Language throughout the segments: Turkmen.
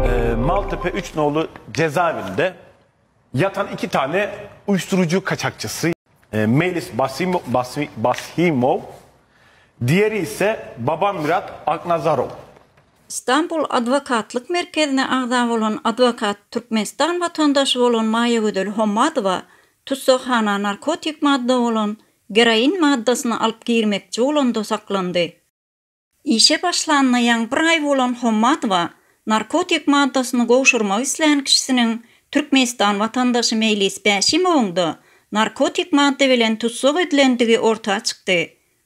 Ee, Maltepe Üç Nolu cezaevinde yatan iki tane uyuşturucu kaçakçısı e, Melis Basimo, Basi, Basimov, diğeri ise Baba Mirat Aknazarov. Stambul adwokatlyk merkezine agza bolan adwokat Türkmenistan watandaşy bolan Maýagözel Hommadowa tussaghana narkotik madda bolan geroin maddasyny alyp girmekçi bolanda saklandy. Işe başlanyna ýaňy bir aý bolan Hommadowa narkotik maddasyny gowşurmak islän kişisiniň Türkmenistan watandaşy Meýlis Bäşimowyň-da narkotik madda bilen tussag edilendigi orta çykdy.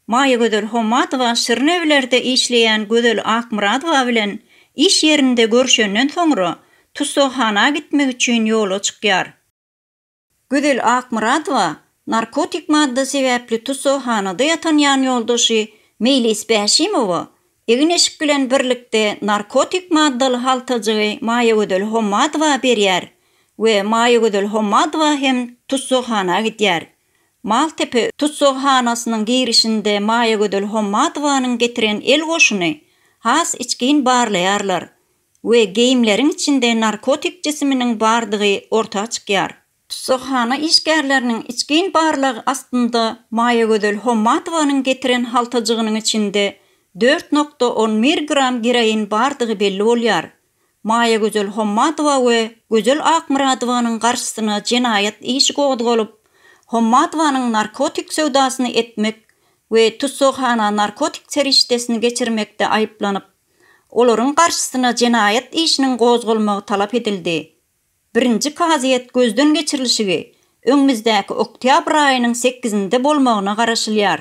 Maýagözel Hommadowa Şirin öýlerde işleýän Gözel Akmyradowa bilen iş ýerinde görşenden soňra, tussaghana gitmek üçin ýola çykýar. Gözel Akmyradowa narkotik madda sebäpli tussaghana-da ýatan ýanýoldaşy Meýlis Bäşimowa egin-eşik bilen birlikde narkotik maddaly haltajygy Maýagözel Hommadowa berýär we Maýagözel Hommadowa hem tussaghana gidýär. Maltepe tussaghanasynyň girişinde Maýagözel Hommadowanyň getiren el goşuny has içgin barlaýarlar we geýimleriň içinde narkotik jisiminiň bardygy orta çykýar. Tussaghana işgärleriniň içgin barlagy astynda Maýagözel Hommatowanyň getiren haltajygynyň içinde dört nokta on bir gram geroin bardygy belli bolýar. Maýagözel Hommatowa we Gözel Akmyradowanyň garşysyna jenaýat işi gozgalyp, Hommatowanyň narkotik söwdasyny etmek we tussaghana narkotik serişdesini geçirmekde aýyplanyp, Olaryň garşysyna jenaýat işiniň gozgalmagy talap edildi. Birinji kazyýet gözden geçirilişigi öňümizdäki oktýabr aýynyň sekizinde bolmagyna garaşylýar.